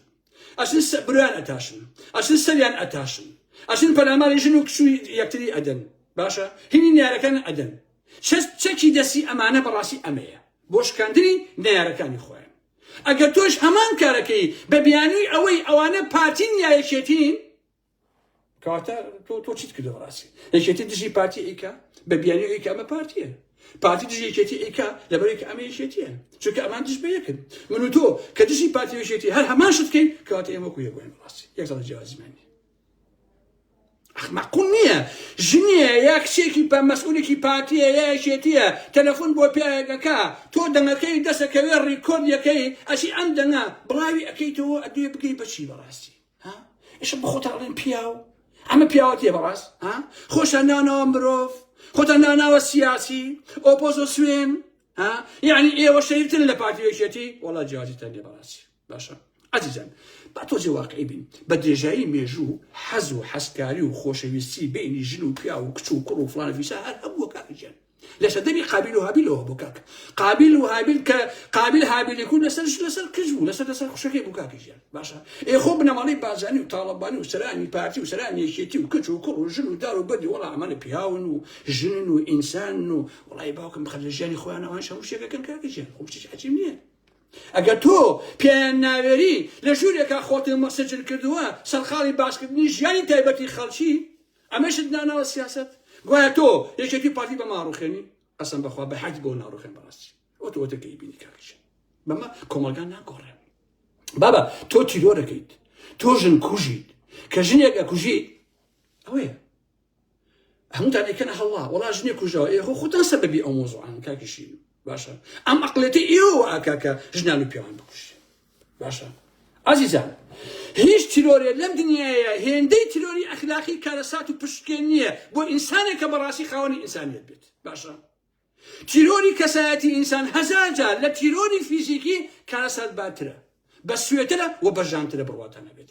Speaker 1: ئەچن سە برۆیان ئەتاشن ئەچن سەریان ئەتاشن ئەچن پەلاماری ژن و کچ و یەکتری ئەدەن باشە هینی نیارەکان ئەدەن چەس چەکی دەسی ئەمانە بەڕاستی ئەمەیە بۆ شکاندنی نیارەکانی خۆیان ئەگەر تۆش هەمان کارەکەی بە بیانووی ئەوەی ئەوانە پارتین یا یەکێتین کەواتە تۆ تۆ چیت کردەوە ڕاستی یەکێتی دژی پارتی ئیکا بە بیانی ئیکا ئەمە پارتیە پارتی دژی یەکێتی ئیکا لەبەرێک ئەمە یەکێتیە چونکە ئەمان دژ بە یەکن من و تۆ کە دژی پارتی یەکێتی هەر هەمان شت بکەین کەواتە ئێمە کو یەکوێن ڕاستی یەک دڵ جیازمانی مەقول نییە ژنیە یا کچێکی بە مەسئولێکی پارتیە یا یەکێتیە تەلەفۆن بۆ پیاەکەکە تۆ دەنگەکەی دەسەکەوێ ڕیکۆردیەکەی ئەسی ئەم دەنگە بڵاوی ئەەکەیتەوە ئەدوێ بگەی بەچی بەڕاستی ها ئیشە بخۆتان ئەڵێن پیاو ئەمە پیاوەتیە بەڕاست ها خۆشان ناوناوە مرۆڤ خۆتان ناوناوە سیاسی ئۆپۆزۆ سوێن ها یعنی ئێوە شەریفتن لە پارتی یەکێتی وڵا جیازیتان لێ بەڕاستی باشە عزیزان با تۆزی واقعی بین بە درێژایی مێژوو حەز و حەزکاری و خۆشەویستی بینی ژن و پیا و کچ و کوڕ و فلان فیسا هەر هەبووە کاکەجیان لە سەردەمی قابیل و هابیلەوە بۆ کاک قابیل و هابیل کە قابیل هابیلی کورد لەسەر لەسەر کچ بوو لەسەر لەسەر خوشەکەی بوو کاکی ژیان باشە ئێ خۆ بنەماڵەی بازانی و تاڵەبانی و سەرانی پارتی و سەرانی یەکێتی و کچ و کوڕ و ژن و دار و بەدی وەڵا ئەمانە پیاون و ژنن و ئینسان و وڵی باوکم بخەر لە ژیانی خۆیان ئەوان هەموو شتێکەکەن کاکی ژیان خۆ شتێک عەجیب نییە ئەگەر تۆ پێیان ناوێری لە ژوورێکا خۆتم مەسەجل کردووە سەرقاڵی باسکردنی ژیانی تایبەتی خەڵکی ئەمەشت داناوە سیاسەت؟ گوایە تۆ یەکێتی و پارتی بەمە ئاڕوخێنی؟ قەسەم بەخوا بە هەشت بۆ ناڕوخێن بەڕاستی ئەو تۆ وەتە کەی بینی کاکیشە بەمە کۆمەڵگا ناگۆڕێن بابا تۆ تیرۆرەکەیت تۆ ژن کوژیت کە ژنێک ئەکوژیت ئەوەیە هەمووتان ئەکەنە هەڵا وەڵا ژنێک کوژەوە ئێ خۆ خۆتان سەبەبی ئەو مۆزوعان کاکیشین باشە ئەم ئەقلێتی ئێوە ئاکا کە ژنان و پیاوان بکوژێ باشە ئازیزان هیچ تیرۆرێ لەم دنیاە هێندەی تیرۆری ئەخلاقی کارەسات و پشتکێن نییە بۆ ئینسانێک کە بەڕاستی خاوەنی ئینسانیت بێت باشە تیرۆری کەسایەتی ئینسان هەزار جار لە تیرۆری فیزیکی کارەسات باترە بە سوێترە و بەژانترە بڕواتانە بێت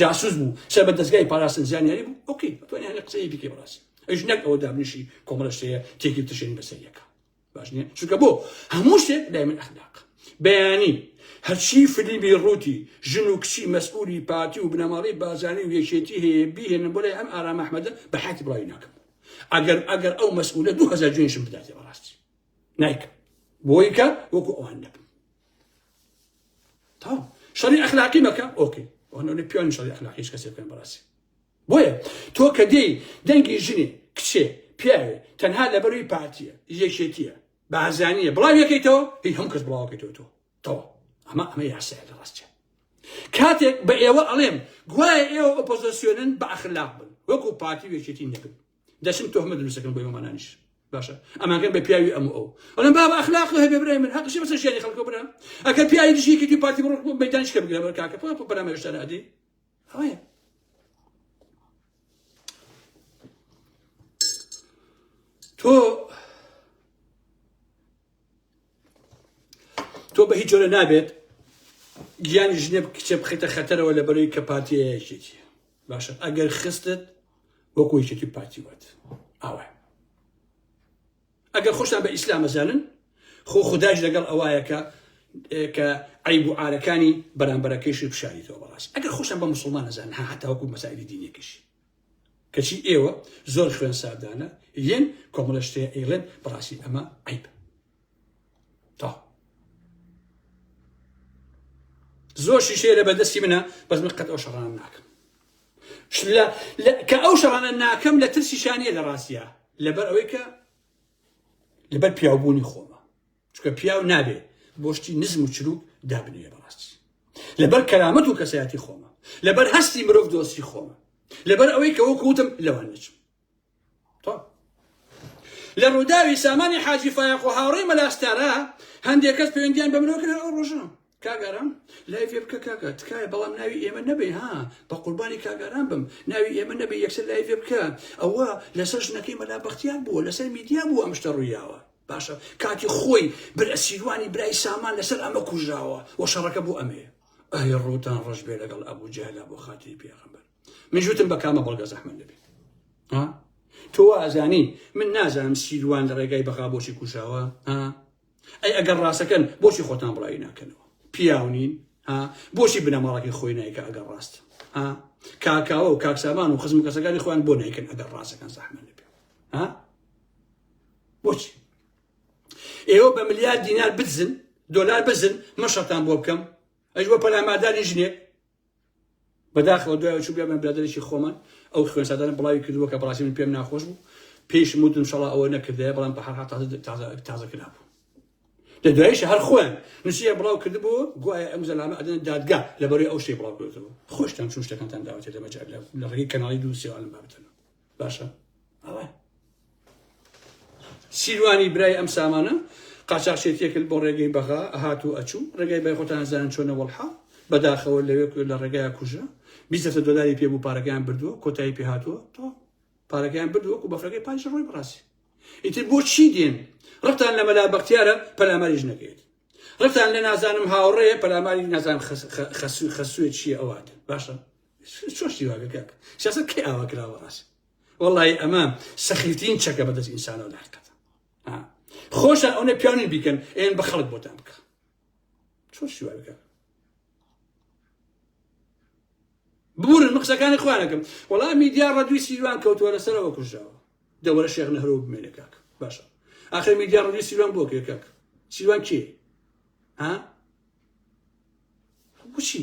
Speaker 1: جاسوس بوو سەر بە دەزگای پاراستن زانیاری بوو ئۆکەی توانیان لە قسەی بکەی بڕاستی ئەوش نەک ئەوە دابنیشی کۆمەڵە شتەیە تێکی تشێن بەسەر یەکە باش نیە چونکە بۆ هەموو شتێک لای من ئەخلاق بەیانی هەرچی فلیمی ڕووتی ژن و کچی مەسئولی پارتی و بنەماڵی بازانی و یەکێتی هەیە بیهێنن بۆ لای ئەم ئارام ئەحمەدە بە حەتی بڵاوی ناکەم ئەگەر ئەگەر ئەو مەسئولە دو هەزار جوێنشم بداتێ بەڕاستی نایکە بۆیکە وەکو ئەوان نەبن تمام شەڕی ئەخلاقی مەکە ئۆکەی ئەوەنەوەی پیانی شەڕی ئەخلاقیش کەسێ بکەن بەڕاستی بۆیە تۆ کە دێی دەنگی ژنی کچێ پیاوێ تەنها لەبەروی پارتیە یەکێتیە بازانیە بڵاو یەکەیتەوە هی هەم کەس بڵاوکەیتەوە تۆ تەوە ئەمە ئەمە یاسایە لە ڕاستە کاتێک بە ئێوە ئەڵێم گوایە ئێوە ئۆپۆزیسیۆنن بە ئەخلاق بن وەکو پارتی وێکێتی نەبن دەچم تۆهمە دروستەکەم بۆ ئەمانانیش باشە ئەمانگەر بە پیاوی ئەم ئەو ئەڵم بابا ئەخلاق هەبێ برای من هەقشی بەسەر ژیانی خەڵکە برا ئەگەر پیاوی دژیکردی پارتی بڕۆ بۆ مەدانش کە بگرە بەر کاکە پۆ پۆ بەرامە هێشتا نادی ئەوەیە تۆ تۆ بە هیچ جۆرە نابێت گیانی ژنێ کچێ بخیتە خەتەرەوە لە بەرەوەی کە پارتیەیەکێتی باشە ئەگەر خستت وەکو یەکێتی پارتی وات ئاوە ئەگەر خۆشتان بە ئیسلام ئەزانن خۆ خداش لەگەڵ ئەوایەکە کە عیب و عارەکانی بەرامبەرەکەیشی پیشانیتەوە بەڕاست ئەگەر خۆشتان بە مسلمان ئەزان هاتاوەکو مەسائلی دینێکیش کەچی ئێوە زۆر خوێن ساردانە ین کۆمەلە شتەیە ئەیڵێن بەڕاستی ئەمە عەیبە تا زۆر شیشەیە لە بەدەستی منە بەس من قەت ئەو شەڕان ناکەم کە ئەو شەڕانە ناکەم لە ترسی شانە لە ڕاستە لەبەر ئەوەی کە لەبەر پیاوبوونی خۆمە چکە پیاو نابێ بۆشتی نزم و چروک دابنێ بەڕاستی لەبەر کەرامەت و کەسایەتی خۆمە لەبەر هەستی مرۆڤ دۆستی خۆمە لەبەر ئەوەی کە وەکوتم لەوان نچم لە ڕووداوی سامانی حاجی فایەق و هاوڕێی مەلاستارا هەندێک کەس پەیوەندیان بە مرۆکرد ئەو ڕۆژە کاک ئارام لایڤێ بکە کاکە تکایە بەڵام ناوی ئێمە نەبێ ها بە قوربانی کاک ئارام بم ناوی ئێمە نەبێ یەکسەر لایڤێ بکە ئەوە لەسەر ژنەکەی مەلا بەختیار بووە لەسەر میدیا بوو ئەم شتە ڕوویاوە باشە کاتی خۆی بر ئەسیروانی برای سامان لەسەر ئەمە کوژراوە و شەڕەکە بۆ ئەمێ ئەی ڕووتان ڕەش بێ لەگەڵ ئەبوو جەهلا بۆ خاتری پێغەمبەر من جوتم بە کامە بەڵگە زەحمەت دەبێت تۆ ئازانی من نازانم سیروان لە ڕێگای بەغا بۆچی کوژاوە ئەی ئەگەر ڕاستەکەن بۆچی خۆتان بڵاوی ناکەنەوە پیاو نین ها بۆچی بنەماڵەکەی خۆی نایکە ئەگەر ڕاست ها کاکاوە و کاکسامان و خزم کەسەکانی خۆیان بۆ نایکەن ئەگەر ڕاستەکان زەحمە نەبێ ها بۆچی ئێوە بە ملیار دینار بزن دۆلار بزن مەشەتان بۆ بکەم ئەی بۆ پەلامادانی ژنێک بەداخەوە دوایەوە چوو بێمە برادەرێکی خۆمان ئەو خوێن سادانە بڵاوی کردووە کە بەڕاستی من پێم ناخۆش بوو پێیشم وتم انشاءاللە ئەوە نەکردەیە بەڵام بە هەر حاڵ تازە تازە تازە کرابوو لە دوایش هەر خۆیان نووسیە بڵاو کردبوو گوایە ئەم زەلامە ئەدەن دادگا لەبەرەی ئەو شتێ بڵاو کردبوو خۆشتان چون شتەکانتان داوەتێ لەمە جار لە ڕێگەی کەناڵی دوو سێوان بابەتەوە باشە ئەوە سیروانی برای ئەم سامانە قاچاخچێتیەکرد بۆ ڕێگەی بەغا ئەهات و ئەچوو ڕێگای بای خۆتان زانن چۆنە وەڵحا بەداخەوە لەوێ لە ڕێگای کوژە بیزەسە دۆلاری پێ بوو پارەکەیان بردووە کۆتایی پێ هاتووە تۆ پارەکەیان بردووە و بەفرەکەی پاش ڕۆی بڕاستی ئیتر بۆ چی دێن ڕقتان لە مەلا بەختیارە پەلاماریش نەکەێت ڕقتان لە نازانم هاوڕێ پەلاماری نازان خەسوێت چیە ئەوات باشە چۆن شتی واگە کاک سیاست کەی ئاوا کراوە ڕاست وەڵی ئەمە سەخیترین چەکە بەدەست ئینسانەوە لە حقەت خۆشە ئەوە پیاوی بیکەن ئێن بە خەڵک بۆتان بکە چۆن شتی واگە کاک بورن من قسەکانی خوارەکەم وەڵا میدیا ڕەدوی سیروان کەوتووە لەسەرەوە کوژراوە دەوەرە شێخ نەهرۆ بمێنە کاک باشە ئاخر میدیا ڕەدوی سیروان بۆ کێ کاک سیروان کێ ها بچی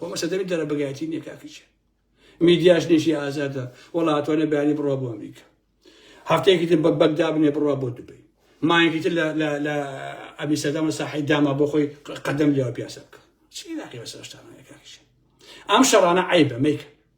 Speaker 1: خۆ مەسە دەبێت دەرە بەگایەتی نییە کاکیچ میدیاش نێژی ئازادە وڵاتوانە بەیانی بڕە بۆ ئەمریکا هەفتەیەکی تر بە بەگدا بنێ بڕە بۆ دوبی مایەکی تر لە ئەبی سەدەمە ساحی داما بۆ خۆی قەدەم لێوە پیاسە بکە چی ناقی بەسەرشتانەکەش ئەم شەڕانە عیبە میکە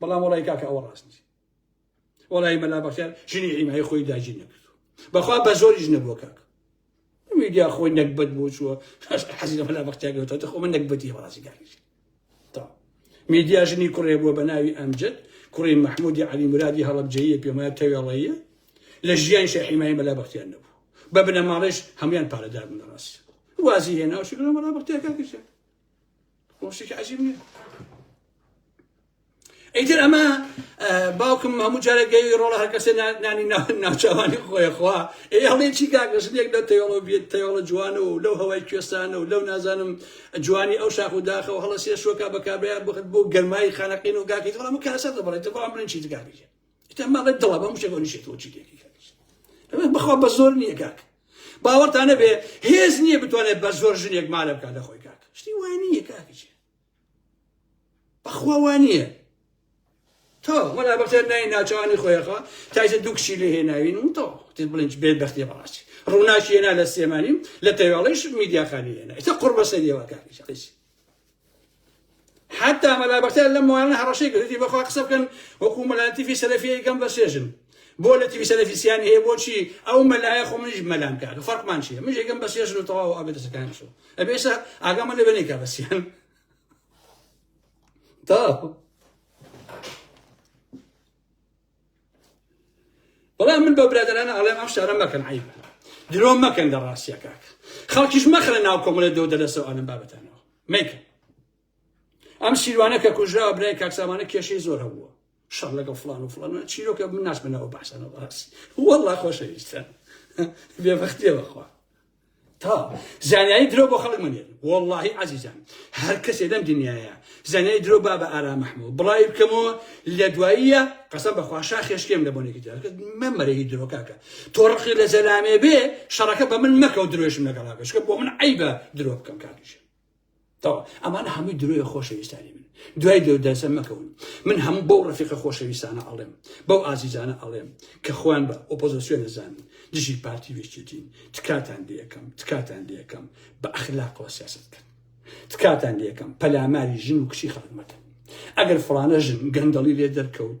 Speaker 1: بەڵام وەڵای کاکە ئەوە ڕاست نیست وەڵای مەلا بەختیار ژنی حیمای خۆی داگیر نەکردو بەخوا بە زۆریش نەبووە کاک میدیا خۆی نەکبەت بۆ چووە حەزی لە مەلا بەختیاگەوتەوە تەخۆ من نەکبەتی بەڕاستی کاکیش تا میدیا ژنی کوڕێ بووە بە ناوی ئەمجد کوڕی مححمودی علی مرادی هەڵبجەیە پێمایە تەوێڵەیە لە ژیان شە حیمای مەلا بەختیان نەبوو بە بنەماڵێش هەموان پارەدار بنەڕاست وازی هێناوشی مەلا بەختیاکە کردێت شتێکی عجیب نییە ئیتر ئەمە باوکم هەموو جارێک گەوی ڕۆڵە هەر کەسێ نانی ناوچوانی خۆیخوا ئێ هەڵێ چی کاگەشتێک لە تەوەڵە بێت تەوەڵە جوان و لەو هەوای کوێستانە و لەو نازانم جوانی ئەو شاخ و داخەوە هەڵە سێ شوەکە بەکابیان بخت بۆ گەرمایی خانەقین و گاکەیت هەڵە من کاسە دەبڵێت بەڵام بڵێن چی دگابیێت ئیتر ما بە دڵە بەم شێوە نیشێتەوە چی لێکی کردی بخوا بە زۆر نییە کاک باوەڕتان نەبێ هێز نییە بتوانێت بە زۆر ژنێک مالە بکات لە خۆی کاک شتی وای نییە کاکچێ بەخوا وان نییە تۆ وەلا بەختێر نای ناچوانی خۆیەخوا تایزە دوو کشی لێ هێناوین و تۆ تێ بڵێنج بێت بەختێ بەڕاستی ڕووناشی هێنا لە سێمانی و لە تەواڵیش میدیاخانی هێنا ئێستا قڕ بەسەریەوە کاکچ حتا مەلا بەختیار لەم ماوەیانە هەڕەشەی کرد وتی بەخوا قسە بکەن وەکوو مەلا لەتیفی سەلەفییەی گەم بەسێژن بۆ لەتیفی سەلەفیسیان هەیە بۆچی ئەو مەلایە خۆ منیش مەلام کاک فەرقمان چیە منیش گەم بەسێژن و تەواو ئەبێت دەسەکان قسە ئەبێ ئێستا ئاگامە لەوێ نەیکا بەسیان تا بەڵام من بە برادرانە ئەڵێم ئەم شارە مەکەن عیب درۆ مەکەن لە ڕاستە کاک خەڵکیش مەخرە ناو کۆمەڵێت دەو دەلەسەوە ئەلم بابەتانەوە مەیکەن ئەم سیروانە کە کوژراوە برای کاکسامانە کێشەی زۆر هەبووە شەڕ لەگەڵ فلان و فلان چیرۆکە من ناسمەوە باسەوە ڕاستی وەڵا خۆشەویستە بێبختی بەخوا تا زانیاری درۆ بۆ خەڵک مەنێر وەڵاهی عزیزان هەر کەسێ لەم دنیاە زانیاری درۆ با بە ئارام محمود بڵاوی بکەمەوە لە دواییە قەسەم بەخوا شا خێشکێم لە بۆنێکی جارکە من مەرەی درۆکاکە تۆ ڕقی لە زەلامێ بێ شەڕەکە بە من مەکە و درۆشم لەگەڵا بێشکە بۆ من عیبە درۆ بکەم کاکیشە تەواو ئەمانە هەمووی درۆیە خۆشەویستانی من دوای لێو دەرسە مەکەون من هەموو بەو ڕفیقە خۆشەویستانە ئەڵێم بەو ئازیزانە ئەڵێم کە خۆیان بە ئۆپۆزیسیۆن نەزانن دژی پارتی وێچێتین تکاتان لێ یەکەم تکاتان لێ یەکەم بە ئەخلاقەوە سیاست بکەن تکاتان لێ یەکەم پەلاماری ژن و کچی خەڵک مەکەن ئەگەر فڵانە ژن گەندەڵی لێ دەرکەوت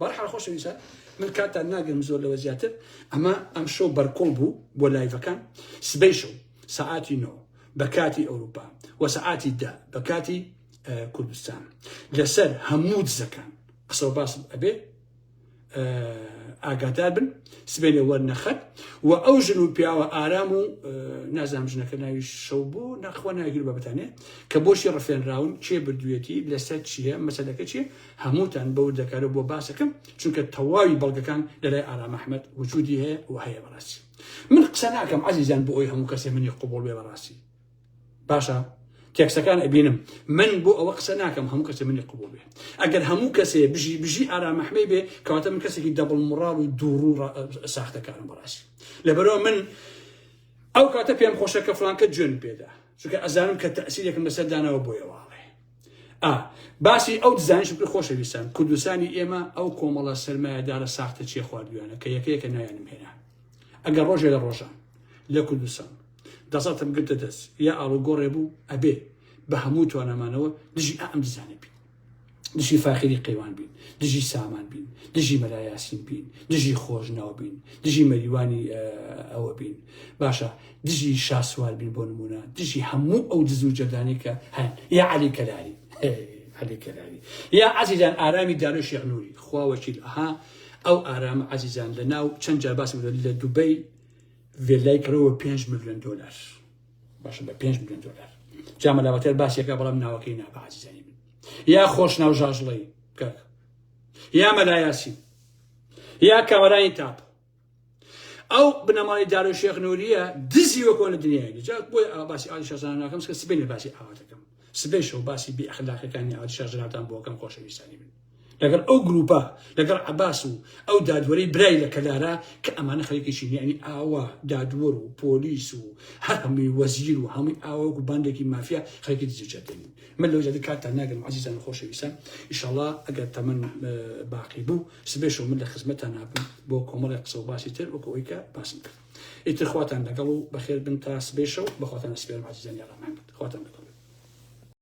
Speaker 1: بەهەرحاڵ خۆشەویستان من کاتتان ناگرم زۆر لەوە زیاتر ئەمە ئەم شەو بەرکۆڵ بوو بۆ لایڤەکان سبەی شەو سەعاتی نۆ بە کاتی ئەوروپا و سەعاتی دا بە کاتی کوردستان لەسەر هەموو دزەکان قسە باسم ئەبێ ئاگادار بن سبێنێ وەرنەخەت و ئەو ژن و پیاوە ئارام و نازام ژنەکە ناوی شەو بوو نەخوا ناگر بەبتانێ کە بۆشی ڕفێنراون چێ بردوێتی لەسەر چییە مەسەلەکە چیە هەمووتان بەور دەکارەوە بۆ باسەکەم چونکە تەواوی بەڵگەکان لەلای ئارام ئەحمەد وجودی هەیە و هەیە بەڕاستی من قسە ناکەم عزیزان بۆ ئەوی هەموو کەسێ منی قوبڵ بێ بەڕاستی باشە تێکسەکان ئەبینم من بۆ ئەوە قسە ناکەم هەموو کەسێ منی قوبڵ بێ ئەگەر هەموو کەسێ بژی بژی ئارامەحمەی بێ کەواتە من کەسێکی دەبڵ مڕاڵ و دووڕوو ساختەکارم بەڕاستی لەبەرەوە من ئەو کاتە پێم خۆشە کە فلانکە جوێن پێدا چونکە ئەزانم کە تەسیرێکم لەسەر داناوە بۆیەوە ئا باسی ئەو دزانش بکە خۆشەویستان کوردستانی ئێمە ئەو کۆمەڵە سەرمایەدارە ساختە چیە خواردویانە کە یەکەیەکە نایانم هێنا ئەگەر ڕۆژێ لە ڕۆژان لە کوردستان دەسەڵتم گرتە دەست یا ئاڵوگۆڕێ بوو ئەبێ بە هەموو توانەمانەوە دژی ئەم دزانە بین دژی فاخری قەیوان بین دژی سامان بین دژی مەلایاسین بین دژی خۆشناو بین دژی مەریوانی ئەوە بین باشە دژی شاسوار بین بۆ نمونە دژی هەموو ئەو دز و جەدانی کە هەن یا علی کەلاری علی کەلاری یا عزیزان ئارامی دارو شێخ نوری خوا وەکیل ئەها ئەو ئارام عزیزان لە ناو چەند جار باسی لە دوبەی ڤێلای کڕەوە 5 میلیۆن دلار باشە بە 5 میلیۆن دلار جامە لاواتەر باسیەکە بەڵام ناوەکەی نابە عزیزانی من یا خۆش ناو ژاژڵەی کاک یا مەلایاسی یا کامەرانی تاپ ئەو بنەماڵی دارو شێخ نوریە دزی وە کۆنە دنیای جا بۆی ئا باسی ئالی شازان ناکەم کە سبێنێ باسی ئاواتەکەم سبێ شەو باسی بی ئەخلاقەکانی ئالی شازناتان بۆکەم خۆشەویستانی من لەگەڵ ئەو گروپە لەگەڵ عباس و ئەو دادوەری برای لە کەلارە کە ئەمانە خەریکیشی یعنی ئاوا دادوەر و پۆلیس و هەر هەمووی وەزیر و هەمووی ئاوەک و باندێکی مافیا خەریکی دزیجەتین من لەو جادی کاتتان ناگەم عزیزان خۆشەویستان ئیشەڵا ئەگەر تەمەن باقی بوو سبێشەو من لە خزمەتان نابم بۆ کۆمەڵی قسە و باسی تر وەکو ئەوی کە باسم کرد ئیتر خواتان لەگەڵ و بەخێر بن تا سبێشەو بەخواتان سپێرم عزیزانی ڕەحمان خواتان لەگەڵ